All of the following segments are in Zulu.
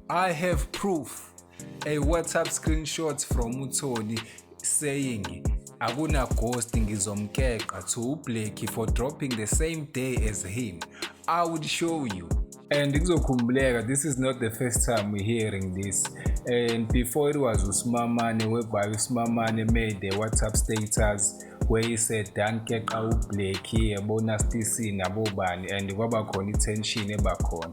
I have proof a WhatsApp screenshot from uTholi saying akuna ghost ngizomkeqa to uBlackie for dropping the same day as him. I would show you. And kuzokhumbuleka this is not the first time we hearing this. And before it was uSimamane whereby uSimamane made the WhatsApp status where he said Dan keqa uBlackie yabona Stisi nabobani and kwaba khona i-tension ebakhona.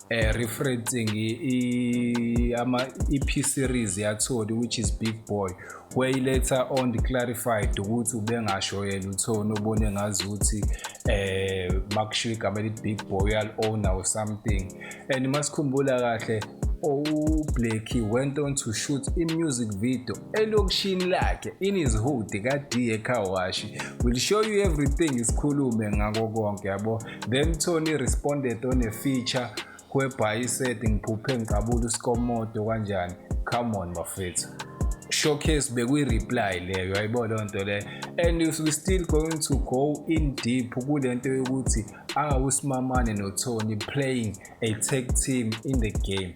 eh referencing i ama EP series yatholi which is Big Boy where later on clarified ukuthi ubengasho yena uthona ubone ngazi ukuthi eh makushiya igama elithi Big Boy uyal owner or something and masikhumbula kahle uBlackie went on to shoot i-music video elokishini lakhe in his hood ka-DA Kawashi. We'll show you everything isikhulume ngako konke yabo. Then Tony responded on a feature whereby he said ngiphuphe ngiqabula usikomodo kanjani come on bafethu showcase bekwi-reply leyo ayibo loo nto leyo and we still going to go in deep kule nto yokuthi awusimamane nothony playing a tag team in the game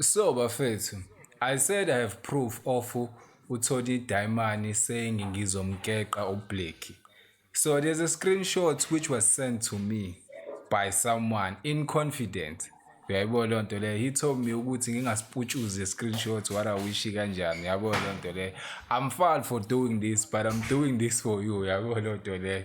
So bafethu, I said I have proof of uthole idayimani saying ngizomkeqa uBlackie. So there's a screenshot which was sent to me by someone in confidence. Uyayibona leyo nto leyo. He told me ukuthi ngingasiputshuzi screenshot what I wish kanjani. Uyabo leyo nto leyo. I'm foul for doing this but I'm doing this for you. Uyabo leyo nto leyo.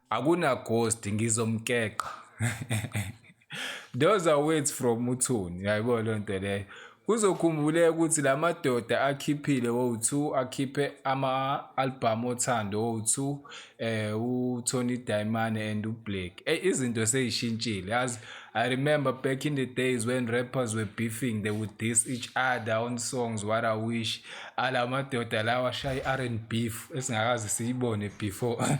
Akuna ghost ngizomkeqa. Those are words from uthuni yayibona loo nto leyo kuzokhumbuleka ukuthi la madoda akhiphile wo-two akhiphe ama-albhamu othando wo-two um eh, utony diamane and ublack eyi eh, izinto seyishintshile yazi i remember back in the days when rappers were beefing they would dis each other on songs what i wish ala madoda lawa ashaya i-r and beef esingakazi siyibone before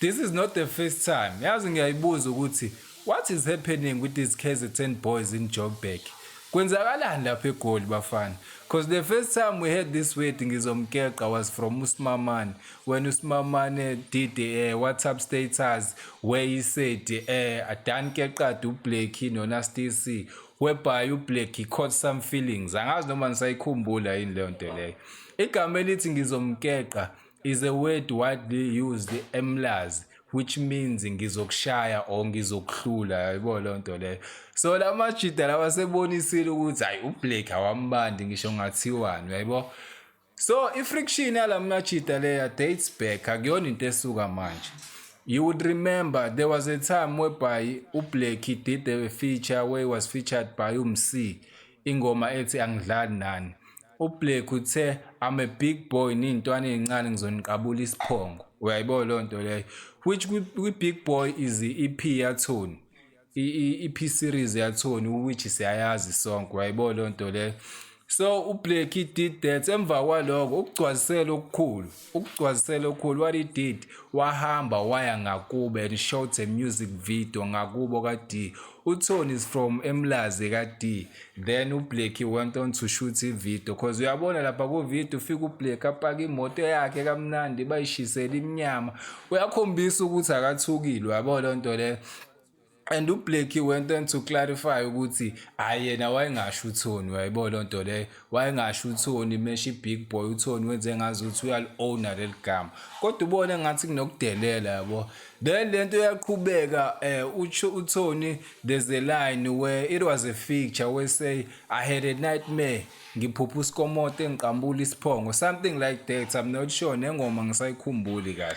This is not the first time yazi ngiyayibuza ukuthi what is happening with these KZN boys in Joburg kwenzakalani lapha eGoli bafana cause the first time we heard this word ngizomkeqa was from uSimamane when uSimamane did a WhatsApp status where he said eh adan keqadi uBlackie noNasty C whereby uBlackie caught some feelings angazi noma nisayikhumbula yini leyo nto leyo igama elithi ngizomkeqa is a word widely used eMlazi which means ngizokushaya or ngizokuhlula yayibona leyo nto leyo so la majida lawa sebonisile ukuthi hayi uBlake awambandi ngisho ngathiwani yayibo so i-friction yala majida leya dates back akuyona into esuka manje You would remember there was a time whereby uBlackie did a feature where he was featured by uMc ingoma ethi angidlali nani UBlake uthe I'm a big boy niyintwana ezincane ngizoniqabula isiphongo. Uyayibo lo nto leyo. Which kwi-big boy is i-EP yathoni. I-EP series yathoni which siyayazi sonke. Uyayibo lo nto leyo. So uBlake did that emva kwaloko ukugcwalisela okukhulu. ukugcwazisela okukhulu what he did wahamba waya ngakubo and shot a music video ngakubo ka-d utony is from emlazi ka-d then ublacki went on to shoot ivideo cause uyabona lapha kuvideo ufike ublack apaka imoto yakhe kamnandi bayishisele imnyama uyakhombisa ukuthi akathukile uyabona loo nto leyo and ublackie went on to clarify ukuthi hhayi yena wayengasho uthoni wayibo loo nto leyo wayengasho uthoni mesha i-big boy uthoni wenze ngazi ukuthi uyali-owna leli gama kodwa ubone engathi kunokudelela yabo then le nto yaqhubeka um eh, utsho uthoni there's a line where it was a feature where say i had a nightmare ngiphupha usikomoto engiqambula isiphongo something like that i'm not sure nengoma ngisayikhumbuli kahle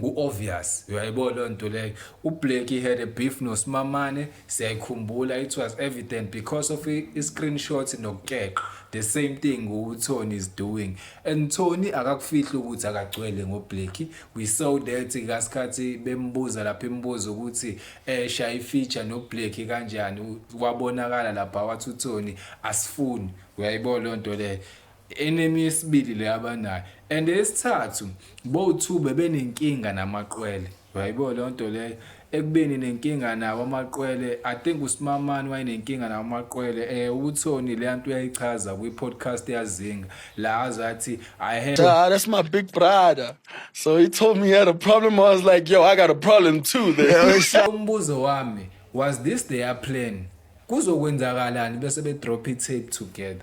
ku-obvious uyayibona loo nto leyo ublack he had a beef nosimamane siyayikhumbula it was evident because of i-screenshot nokukeqa the same thing utony is doing and tony akakufihli ukuthi akagcwele ngoblack we saw that kasikhathi bembuza lapha imibuzo ukuthi um shaya ifeature noblack kanjani wabonakala lapha wathi utony asifuni uyayibona loo nto leyo enemi yesibili le abanayo and eyesithathu bowu-two bebenenkinga namaqwele wayibo leyo nto leyo ekubeni nenkinga nawo amaqwele i think usimamani wayenenkinga nawo amaqwele um eh, uthoni leya nto uyayichaza kwi-podcast yazinga la aze athi i had ah, that's my big brother so he told me he had a problem i was like yo i got a problem too there umbuzo wami was this their plan kuzokwenzakalani bese be-drop i-tape together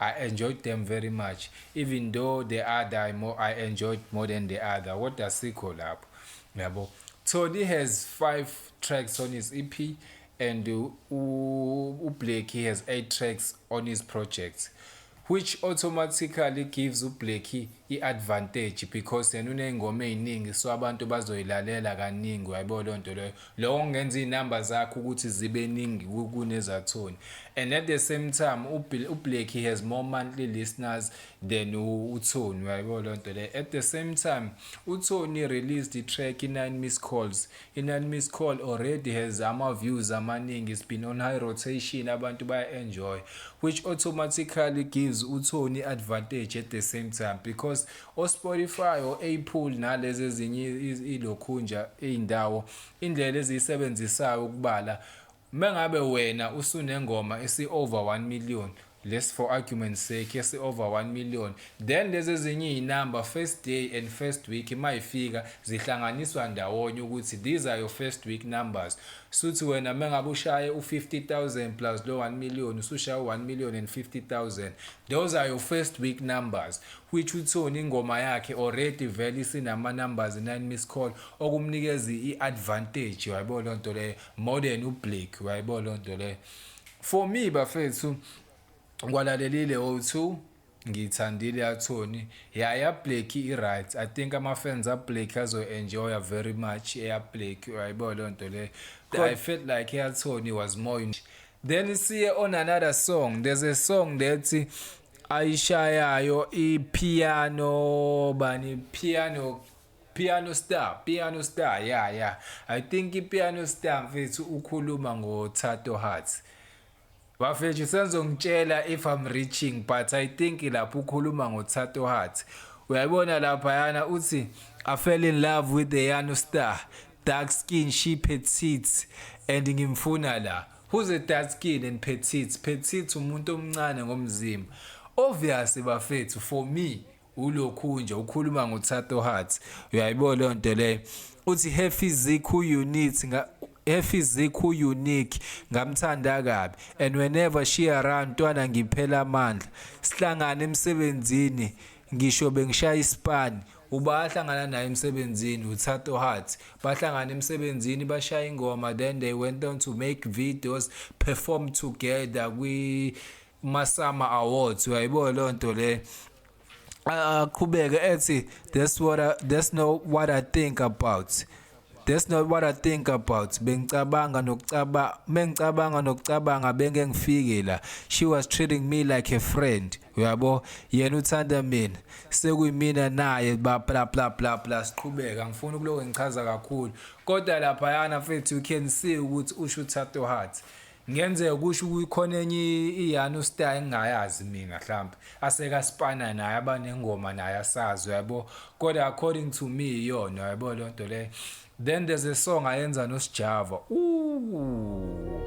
I enjoyed them very much even though the other I, more, I enjoyed more than the other kodwa sikho lapho yabo Tholi has 5 tracks on his EP and uBlackie has 8 tracks on his projects which automatically gives uBlackie i-advantage because yena uney'ngoma ey'ningi so abantu bazoyilalela kaningi uyayibo leyo nto leyo Lokho kungenza izinamba zakhe ukuthi zibe ningi kunezathoni. And at the same time uBlack he has more monthly listeners than uThoni uyayibona lonto le. At the same time uThoni released i-track i-9 missed calls. I-9 missed call already has ama views amaningi. It's been on high rotation abantu baya enjoy which automatically gives uThoni advantage at the same time because o-Spotify, o-Apple nalezi ezinye ilokhunja iy'ndawo indlela eziyisebenzisayo ukubala uma ngabe wena usunengoma esi-over 1 million less for argument sake esi-over 1 million then lezi ezinye iy'number first day and first week uma ifika zihlanganiswa ndawonye ukuthi these are your first week numbers suthi wena uma ngabe ushaye u-50 000 plus lo 1 million usushaye u-1 million and 50 000 those are your first week numbers which uthole ingoma yakhe already vele isinama numbers 9 miss call okumnikeza i advantage uyayibo lonto le more than ublake uyayibo lonto le for me bafethu ngwalalelile o2 ngiyithandile yathoni yaya black i-right i think ama-fans ablack azoyi-enjoya very much eyablack uyayibo leyo nto leyo i felt like eyathoni was more then siye on another song there's a song that ayishayayo ipiano bani piano piano star piano star ya yeah, ya yeah. i think ipiano star mfethu ukhuluma ngothato hearts bafethu usenzongitshela if i'm reaching but i think lapho ukhuluma ngothato hearts uyayibona laphayana uthi i fell in love with the yano star dark skin she petite and ngimfuna la Who's a dark skin and petite? Petite umuntu omncane ngomzimba. Obvious bafethu for me ulokhu nje ukhuluma ngoThato Heart. Uyayibona leyo nto leyo. Uthi her physique who you need nga her physique who unique ngamthanda kabi and whenever she around ntwana ngiphela amandla. Sihlangana emsebenzini ngisho bengishaya ispan Uba ahlangana naye emsebenzini uThato Heart. Bahlangana emsebenzini bashaya ingoma then they went on to make videos, perform together kwi Masama Awards. Uyayibo leyo nto le. Aqhubeke ethi that's what I, that's not what I think about. That's not what I think about. Bengicabanga nokucabanga, mengicabanga nokucabanga bengengifike la. She was treating me like a friend. uyabo yena uthanda mina sekuyimina naye bla bla bla bla bla siqhubeka ngifuna ukuloku ngichaza kakhulu kodwa lapha yana mfethu you can see ukuthi usho uthato heart ngenzeka kusho ukukhona enye iyana ustar engingayazi mina mhlawumbe aseka spana naye abanengoma naye asazi yabo kodwa according to me iyona yabo lento le Then there's a song ayenza no Sjava. Ooh.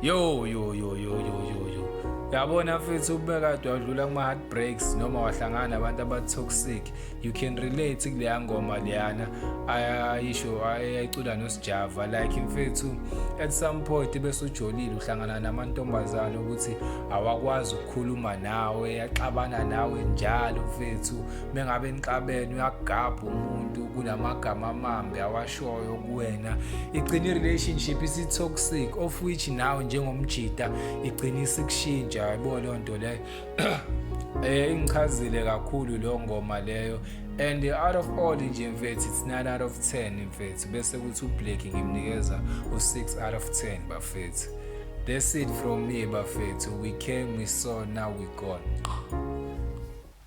Yo yo yo yo yo yo yo. Yabona mfethu ubekade wadlula kuma heartbreaks noma wahlangana abantu aba toxic. You can relate kuleya ngoma leyana. Ayisho ayicula no Sjava like mfethu at some point bese ujolile uhlangana namantombazana ukuthi awakwazi ukukhuluma nawe, yaxabana nawe njalo mfethu. mengabe nixabene uyagabha umuntu kunamagama amambi awashoyo kuwena igcina i-relationship isi-toxic of which nawe njengomjita igcina isikushintsha yabo leyo nto leyo eh ingichazile kakhulu lo ngoma leyo and out of all nje mfethu it's 9 out of 10 mfethu bese kuthi ublack ngimnikeza u6 out of 10 bafethu that's it from me bafethu we came we saw now we gone